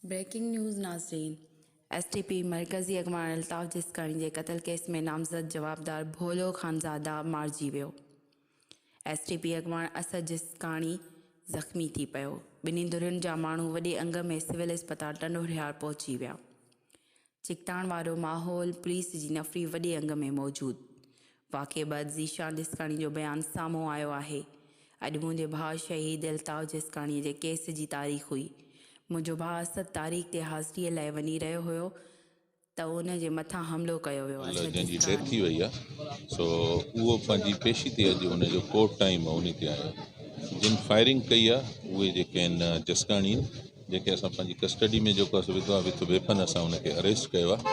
Breaking news ناظرين S T P مرڪزي اڳواڻ الطاف جسڪاڻي جي قتل ڪيس ۾ نامزد جوابدار ڀولو خانزاده مارجي ويو ايس ٽي پي اڳواڻ اسد جسڪاڻي زخمي ٿي پيو، ٻنهي ڌرين جا ماڻهو وڏي انگ ۾ سول اسپتال ٽنڊوهريار پهچي ويا، ڇڪتاڻ وارو ماحول، پوليس جي نفري وڏي انگ ۾ موجود، واقعي بعد ذيشان جسڪاڻي جو بيان سامهون آيو آهي، اڄ منهنجي ڀاء شهيد الطاف جسڪاڻي جي ڪيس جي تاريخ هئي، منهنجو ڀاء اسد تاريخ تي حاضري لاء وڃي رهيو هيو ته ان جي مٿان حملو ڪيو ويو آهي. جنهن جي ڊيٿ ٿي وئي آهي سو اهو پنهنجي پيشي تي اڄ ان جو ڪورٽ ٽائيم ان تي آيو جن فائرنگ ڪئي آهي اهي جيڪي آهن جسڪاڻي آهن جنهن کي اسان پنهنجي ڪسٽڊي ۾ جيڪو اسان وڌو آهي وٿ ويپن اسان ان کي اريسٽ ڪيو آهي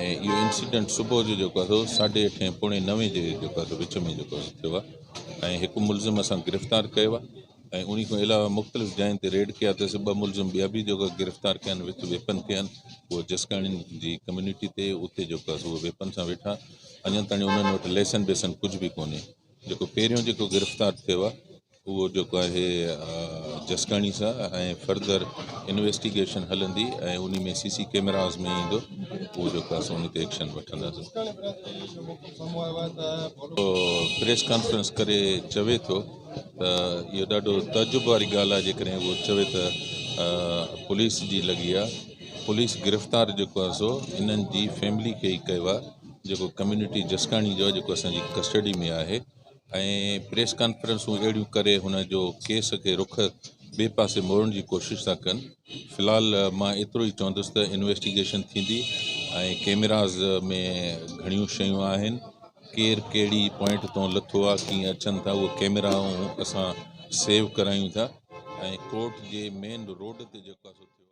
۽ اهو انسيڊنٽ صبح جو جيڪو آهي ساڍي اٺين پوڻي نوين جي جيڪو آهي وچ ۾ جيڪو ٿيو آهي ۽ هڪ ملزم اسان گرفتار ڪيو آهي ۽ انهي کان علاوه مختلف جاين تي ريڊ ڪيا ته سي ٻه ملزم ٻيا به جيڪا گرفتار ڪيا آهن وٿ ويپن تي آهن اهي جسڪاڻين جي ڪميونٽي تي اتي جيڪا سو ويپن سان ويٺا اڃا تاڻي انهن وٽ ليسن بيسن ڪجهه به ڪونهي جيڪو پهريون جيڪو گرفتار ٿيو آهي اهو جيڪو آهي جسڪاڻي سان ۽ فردر انويسٽيگيشن هلندي ۽ ان ۾ سي سي ڪيمراز ۾ ايندو اهو جيڪو آهي سو ان تي ايڪشن وٺنداسين پريس ڪانفرنس ڪري چوي ٿو ته اهو ڏاڍو تعجب واري ڳالهه آهي جيڪڏهن اهو چوي ته پوليس جي لڳي آهي پوليس گرفتار جيڪو آهي سو انهن جي فيملي کي ئي ڪيو آهي جيڪو ڪميونٽي جسڪاڻي جو آهي جيڪو اسان جي ڪسٽڊي ۾ آهي ۽ پريس ڪانفرنسون اهڙيون ڪري هن جو ڪيس کي رخ ٻئي پاسي موڙڻ جي ڪوشش ٿا ڪن في الحال مان ايترو ئي چوندس ته انويسٽيگيشن ٿيندي ۽ ڪيميراز ۾ گهڻيون شيون آهن ڪير ڪهڙي پوائنٽ تون لٿو آ ڪيئن اچن ٿا اهي ڪيميرائون اسان سيو ڪرايون ٿا ۽ ڪورٽ جي مين روڊ تي جيڪو آ سو ٿيو آ.